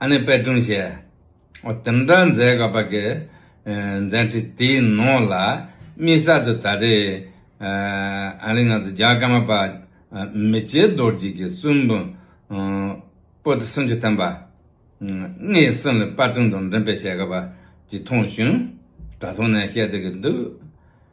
ཨ་ནེ་པད་སྒྲུང་ཞེས་དེ་འདྲ་མཛད་དགོས་པ་གི་མཛད་འཕྲིན་དེའི་ནང་ལ་དམིགས་བསལ་དུ་ད་རེས་ཨ་རིའི་ང་ཚོ་རྒྱ་གར་མ་པཱ་མི་རྗེ་རྡོར་རྗེ་གི་གསུང་འབུམ་པོ་ཏི་སུམ་ཅུ་བསྟན་པ་ལྔའི་གསུང་ལས་པད་སྒྲུང་དང་འབྲེལ་སྤེལ་བྱེད་དགོས་པ་ཅིག་མཐོང་བྱུང། དྲ་ཐོག་ནས་བཤད་སྡོད་ཀྱི་འདུག་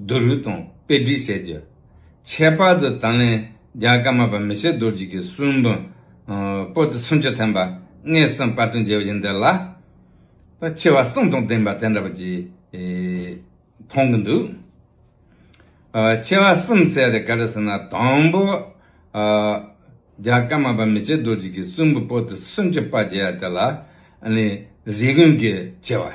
རྡོ་རུས་དང་དཔེ་བྲིས་བྱས་རྒྱུ། ཁྱད་པར་དུ་ད་ལན་རྒྱ་དཀར་མ་པ་མི་ཤེས་རྡོ་རྗེ་གི་གསུང་འབུམ་པོ་ཏི་ཚོན་ཆུ་ཐན་པ་ལྔའི་གསུང་དཔར་དུ་མཇལ་བ་ཡིན་འདི་ལ་ཆེ་བ་གསུང་དང་ལྡན་པ་དེ་འདྲ་བ་ཅིག་མཐོང་གི་འདུག། ཆེ་བ་གསུམ་བསལ་ཏེ་ག་རེ་ཟེར་ན་དང་པོ་རྒྱ་དཀར་མ་པ་མི་ཤེས་རྡོ་རྗེ་གི་གསུང་འབུམ་པོ་ཏི་ཚོན་ཆུ་དཔར་མཇལ་བ་དེ་ལ་རིགས་ཀུན་གྱི་ཆེ་བ།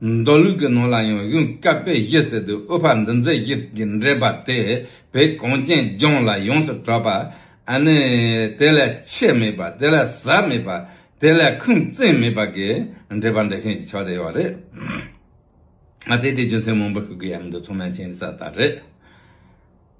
མདོ་ལུགས་ཀྱི་ནང་ལ་ཡང་གཞུང་བསྐལ་པའི་གཞི་ཟེར་དུས་དབུ་ཕར་འདུ་འཛི་གཞི་གི་འགྲེལ་པ་དེ་བོད་གངས་ཅན་ལྗོངས་ལ་ཡོངས་སུ་གྲགས་པ་ནི་དེ་ལས་ཆེ་མེད་པ་དེ་ལས་ཟབ་མེད་པ་དེ་ལས་ཁུངས་བཙན་མེད་པ་གི་འགྲེལ་པ་འགྲེལ་ཆེན་གྱི་ཕྱོགས་ལས་ཡོད་པ་རེད། དེ་དེའི་རྒྱུ་མཚན་མང་པོ་ཞིག་གི་ཡ་མི་འདུག་ཚང་མའི་མཁྱེན་གསལ་ལྟར་རེད།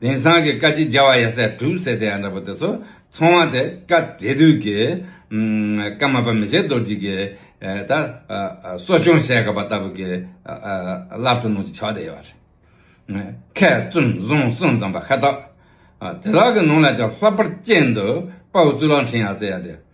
དེང་སང་གི་བཀའ་སྤྱི་རྒྱལ་བ་ཡ་སེ་གྲུབ་ཟེར་དེ་ཡང་འདྲ་པོ་དེ་ཚོ་ཚོང་བ་དེ་བཀའ་དེ་དུས་ཀྱི་བཀའ་མ་པ་མི་ཆེ་རྡོ་རྗེ་ཀྱི་ད་གསོ་སྐྱོང་བྱས་དགའ་པ་ལྟ་བུ་ཀྱི་བླ་སྤྲུལ་ནང་གྱི་བྱ་བ་དེ་ཡོད་པ་རེད། མཁས་བཙུན་བཟང་གསུང་ཙམ་པ་ཁ་ཐག་དེ་དག་གི་ནང་ལ་ཀྱང་ལྷག་པར་སྐྱེས་འདུག་དཔའ་བོ་གཙུག་ལག་འཕྲིན་ཡ་སེ་ཡ་དེ།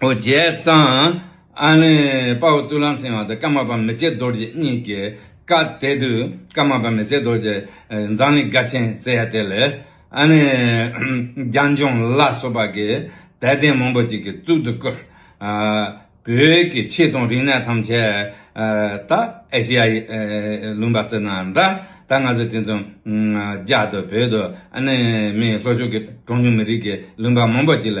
ཨོ་རྒྱལ་གཙང། ཨ་ནི། དཔའ་བོ་གཙུག་ལག་མཐིང་བ་དང་ཀརྨ་པ་མི་བརྒྱད་རྡོ་རྗེ་གཉིས་ཀྱི་བཀའ་གཏད་དུས་ཀརྨ་པ་མི་བརྒྱད་རྡོ་རྗེ་མཛངས་མི་དགའ་ཆེན་ཟེར་ཡ་དེ་ལས་ཨ་ནི། རྒྱ་འབྱུང་ལ་སོགས་པ་གིས་དད་ལྡན་མང་པོ་ཅིག་གིས་གཙུག་ཏུ་བཀུར། བོད་ཀྱི་ཆོས་དང་རིག་གནས་ཐམས་ཅད་ད་ཨེ་ཤི་ཡ་ཡི་ལུང་པ་ཟེར་ན་འདྲ་ད་ང་ཚོས་དེ་ཚོ་རྒྱ་དང་བོད་དང་ཨ་ནི་མིའི་ལྷོ་ཕྱོགས་ཀྱི་གྲངས་ཉུང་མི་རིགས་ཀྱི་ལུང་པ་མང་པོ་ཅིག་ལ་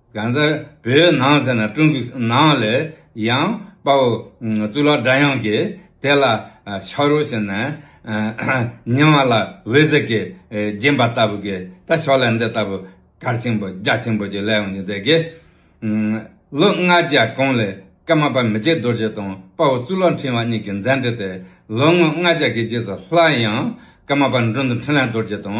ཡང་རྩེ་བོའི་ནང་ཟེར་ན་ཀྲུང་གོའི་ནང་ལས་ཡང་དཔའ་བོ་གཙུག་ལག་སྒྲ་དབྱངས་ཀྱིས་དེ་ལ་ཕྱག་རོགས་བྱས་ནས། ཉི་མ་ལ་འོད་ཟེར་གྱིས་བརྒྱན་པ་ལྟ་བུ་གིས་ད་ཞོག་ལས་འདི་ལྟ་བུ་གར་ཆེན་པོ་རྒྱ་ཆེན་པོ་གྱི་ལས་ཡོང་བཞིན་བསྡད་ཀྱི། ལོ་ལྔ་བརྒྱ་གོང་ལས་ཀརྨ་དཔལ་མི་རྗེ་རྡོ་རྗེ་དང་དཔའ་བོ་གཙུག་ལག་འཕྲིན་བ་གཉིས་ཀྱི་མཛད་འཕྲིན་དེ་ལོ་ངོ་ལྔ་བརྒྱ་གི་རྗེས་སུ་སླར་ཡང་ཀརྨ་དཔལ་མགྲོན་དུ་འཕྲིན་ལས་རྡོ་རྗེ་དང་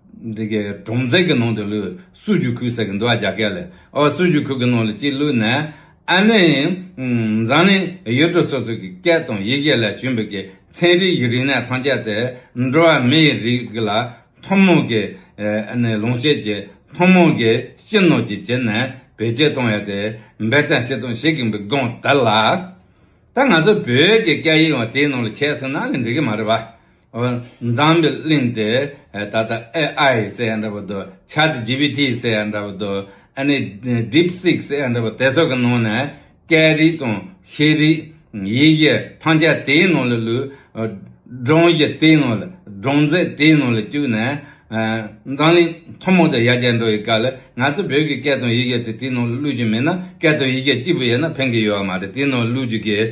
འདི་གའི་གྲོང་ཚད་ཀྱི་ནང་དུ་ལུས་སུ་རྒྱུག་ཁུག་ཟེར་གི་འདུག་ཨ་རྒྱ་སྐད་ལས་ཨོ་སུ་རྒྱུག་ཁུག་གི་ནང་ལ་གཅིག་ལུས་ནས་ཨ་ནི་འཛམ་གླིང་ཡུལ་གྲུ་སོ་སོ་གི་སྐད་དང་ཡི་གེ་ལས་བྱུང་བའི་གི་ཚན་རིག་གི་རིག་གནས་ཐམས་ཅད་དེ་འགྲོ་བ་མིའི་རིགས་ལ་ཐུན་མོང་གི་ལོངས་སྤྱད་ཀྱི་ཐུན་མོང་གི་སྤྱི་ནོར་གྱི་བྱེད་ནས་བེད་སྤྱད་གཏོང་ཡ་དེ་འབད་བརྩན་བྱེད་དང་བྱེད་གིན་པའི་སྒང་དེ་ལ། ད་ང་ཚོ་བོད་ཀྱི་སྐད་ཡིག་ཡང་དེའི་ནང་ལ་ཁྱད་སོང་ན་ལས་འགྲིག་གི་མ་རེད་བ། འཛམ་བུའི་གླིང་དེ་ད་ལྟ AI ཟེར་ཡ་འདྲ་པོ་འདུག Chat GPT ཟེར་ཡ་འདྲ་པོ་འདུག་ཨ་ནི DeepSeek ཟེར་ཡ་འདྲ་པོ་དེ་ཚོ་གི་ནང་ནས་སྐད་རིགས་དང་ཤེས་རིག་ཡིག་གཞི་ཐམས་ཅད་དེའི་ནང་ལ་ལུས། སྒྲུང་གཞི་དེའི་ནང་ལ་སྒྲུང་མཛོད་དེའི་ནང་ལ་བཅུག་ནས། འཛམ་གླིང་ཐུང་མོང་དུ་ཡར་རྒྱས་འགྲོ་བའི་སྐབས་ལ་ང་ཚོ་བོད་ཀྱི་སྐད་དང་ཡིག་གཞི་དེ་དེའི་ནང་ལ་ལུས་རྒྱུ་མེད་ན་སྐད་དང་ཡིག་གཞི་གཅིག་པུ་ཡོད་ན་ཕན་གྱི་ཡོད་མ་རེད་དེའི་ནང་ལ་ལུས་རྒྱུ་གལ་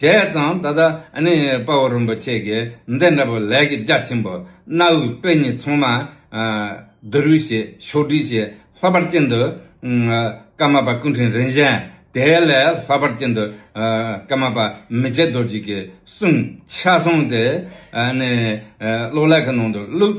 བྱས་ཙང་ད་ལྟ་ནི་དཔའ་བོ་རིན་པོ་ཆེ་གི་འདི་འདྲ་བུ་ལས་ཀྱི་རྒྱ་ཆེན་པོ་གནའ་བོའི་དཔེ་རྙིང་ཚང་མ་བསྡུ་རུས་བྱས་ཕྱོགས་བསྒྲིགས་བྱས་ལྷག་པར་ཅན་དུ་ཀརྨ་པ་སྐུ་འཕྲེང་རིན་ཆེན་དེ་ལས་ལྷག་པར་ཅན་དུ་ཀརྨ་པ་མི་ཆེ་རྡོ་རྗེ་གི་གསུང་ཆ་བཟང་དེ་ནི་གློག་ཀླད་ཀྱི་ནང་དུ་བླུགས་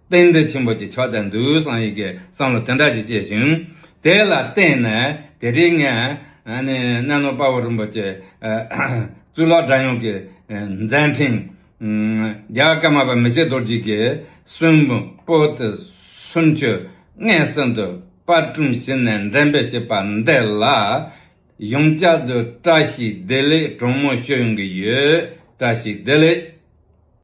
རྟེན་འབྲེལ་ཆེན་པོ་ཅིག་ཆགས་བསྡད་འདུག་བསམ་ཡི་གེ་བསམ་བློ་དེ་འདྲ་ཞིག་སྐྱེས་བྱུང། དེ་ལ་བརྟེན་ནས་དེ་རིང་ངས་གནས་ནོར་དཔའ་བོ་རིན་པོ་ཆེ་གཙུག་ལག་སྒྲ་དབྱངས་ཀྱི་མཛད་འཕྲིན། རྒྱ་གར་ཀརྨ་པ་མི་ཤེས་རྡོ་རྗེ་ཀྱི་གསོན་པོ་དེ་གསུམ་ཆོས་ལྔའི་གསེང་དུ་དཔར་སྐྲུན་བྱས་ནས་འགྲེམས་སྤེལ་བྱས་པ་འདི་ལ་ཡང་བསྐྱར་དུ་བཀྲ་ཤིས་བདེ་ལེགས་དྲོན་མོ་ཞུ་ཡོང་གི་ཡོད། བཀྲ་ཤིས་བདེ་ལེགས།